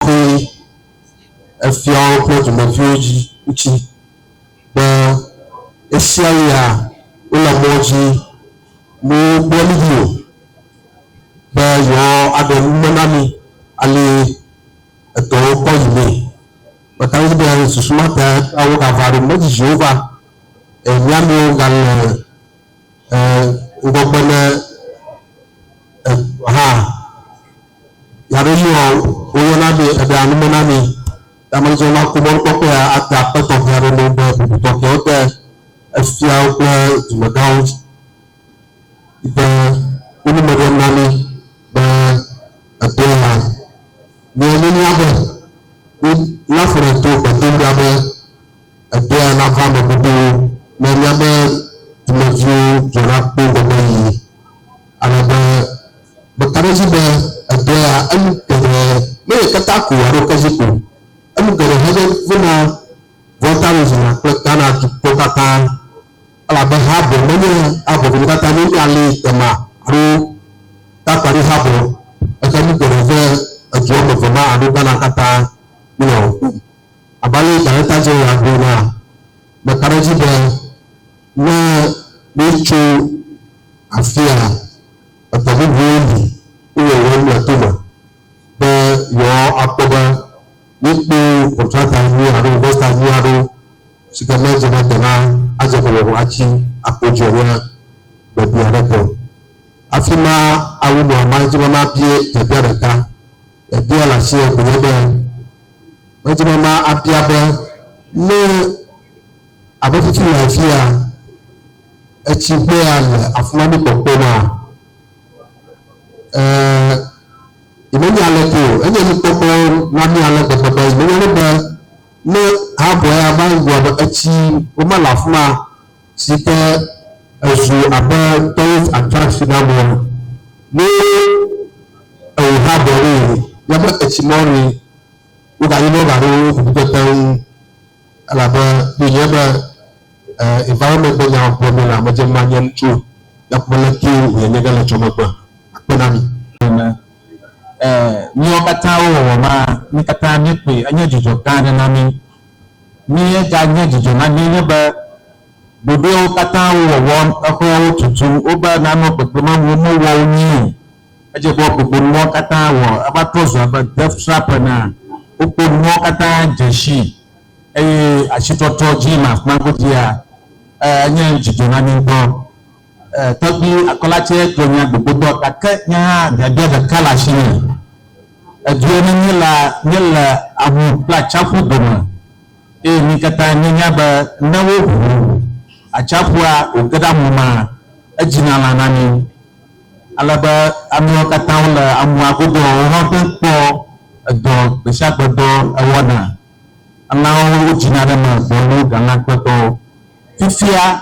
koe efia woƒe dumeviwo dzi ŋuti be ɣesiaɣia wole mɔ dzi ne wogblɔ nu ʋu be yewoaɖe nume na mi ale edɔwo kpɔ yi mee. Meka ɖe edzi be susu ma ta wogava ɖo mɔ dzi Yehowa eh, mía amewo gale E, ŋgɔgbe ne e, ha yaɖo yi wɔ woyɔ na mi eɖe anume na mi yamelizɔ na kumɔ nukpɔkpɔ ya ate akpe tɔxɛ aɖe ne be bubu tɔxɛwo te efiawo kple dumegãwo dzi de wonume ɖem na mi be eto ya mi enunya be mi laƒo ɖe to gbedoɖa be Egbea nava eme godoo ne mía me dumeviwo dzɔna kpoo gɔ̃ be yi, ale be meka ɖe edzi be egbea enu geɖe menye keta ko alo kezi ko. Enu geɖe hã nye vena, vɔ̃taɖodzina kple Ghana dukɔ katã, elabe habɔ menye habɔ dometɔ ɖeka nye mía li dema alo takpaɖi habɔ, gake nu geɖe ve edua me vema alo Ghana katã míenɔ ŋku. Abe ale si Darekta Jeneral gblɔ enea, meka ɖe edzi be ne míetso afia la, edɔ bubuwo li si wòle wɔm le to me be yewoakpɔ be míekpɔ kɔntrata nyui alo investa nyui aɖewo si ke ne edze be dena adze ƒome vɔ atsi akpo dzi o nye biabia aɖe ko. Afima awu nɔ ema dzi be mabia biabia ɖeka Ebia le afia ko nye be, medze be ma abia be, ne abe fifi le afia, etsi ƒe ya le afima mi kpɔkpɔ ma, eh, yi me nya le ko, enye mi kpɔkpɔ na mi ale gbegbe be, yi me nya le be, ne ha bɔ ya va yi gua be, etsi wo ma le afima, si ke ezu abe tourist attraction na amewo ene. Ne ewò hã ɖe ɖo yi ne be etsi mɔ ni, wogayi ne wogaɖo wo ŋu teteŋ elabe ɖo nye be eh, environment be nyawo gblɔ mele ame dze manye ŋutsu nakpɔ le ke wòle nye ge le tsɔ megbe akpe na mi. Ene. Eh, míawo katã wo wɔwɔ ma, mí katã míekpɔe, enye dzudzɔ gã aɖe na mí. Míeganye dzidzɔ na mí nye be ɖoɖoewo katã wo wɔwɔ, exɔawo tutu, wobe nanɔ kpekpeme wo me wɔ wo nyuie, edze be wogbogbo nuawo katã wɔ eva trɔ zu abe deathtrap enea, wokpɔ nuawo katã dze si eye asitrɔtrɔ dzi le afima godzia, enye dzidzɔ na mí ŋutɔ. Eh, tɔgbi akɔla tsɛ gblɔ nya gbogbotɔ, gake nye hã biabia ɖeka le asinye. Edua me míela, míele awu kple atsiaƒu dome, eye mí katã míenya be ne woʋu atsiaƒua wòge ɖe amu mea, edzina lã na mí. Ale be amewo katã wole amua godo ɔ, wohã te ŋu kpɔ edɔ gbesiagbe dɔ ewɔna. Elãwo wodzina ɖe eme gbɔlo galãkpetɔwo. Fifia,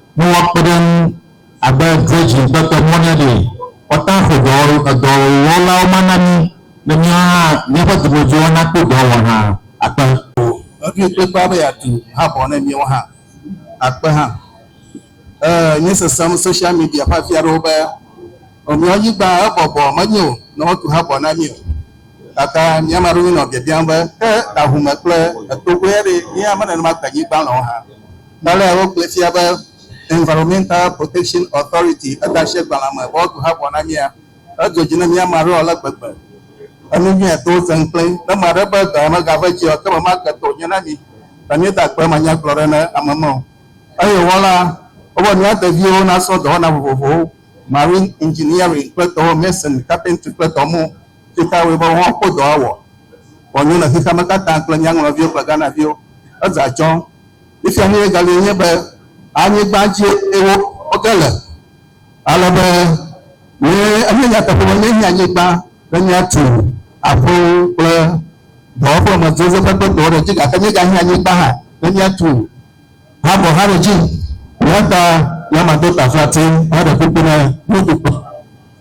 ne woakpe ɖe eŋu abe dredzi ƒe ke mɔ ne ɖee. Kɔta ƒo dɔ edɔwɔlawo ma na mí be míawo hã míaƒe dɔmedzoewo nakpɔ dɔ wɔ hã akpe. Eʋli kplikpaa be yeatu habɔ ne míawo hã akpe hã. E nye sesem social media ƒe afi aɖewo be Nɔviawo Nyigba ebɔbɔ menyo ne woatu habɔ na mí o. Gake mi ame aɖewo nye nɔ biabiam be, Ke ahume kple etogoea ɖe? Ye ame nenema ke nyigba lɔ̃wo hã? Gbalẽa wogblɔe fia be Environmental Protection Authority eɖeasiagbalẽa me wɔdɔ ha vɔ na mía. Edzɔ dzi na mí ame aɖewo ale gbegbe. Enu nyui atɔ wo fẽŋ kple ne ame aɖe be dɔa megava edzi o, ekema mage tɔ wònye na mí be míeda akpe manyagblɔɖi na ame me o. Eye wɔla wobe nua deviwo nasrɔ̃ dɔwɔna vovovowo, marine engineering kple dɔwo, mason, carpentry kple dɔ mɔ tsitawoe be woawo kpo dɔa wɔ wòanyo na xexeame katã kple mía ŋlɔviwo kple Ghanaviwo. Edze atsɔ̃. Nusia nye galie nye be anyigba dzie wo woge le. Ale be nye enye nyateƒe be nye nye anyigba be nye atu aƒewo kple dɔwɔƒe me dzodze ƒe kpekpewo ɖe dzi gake nye ga nye anyigba hã be nye atu habɔ hã ɖe dzi. Eya ta nye ma do taflatse hã ɖe kuku ne nye dukɔ.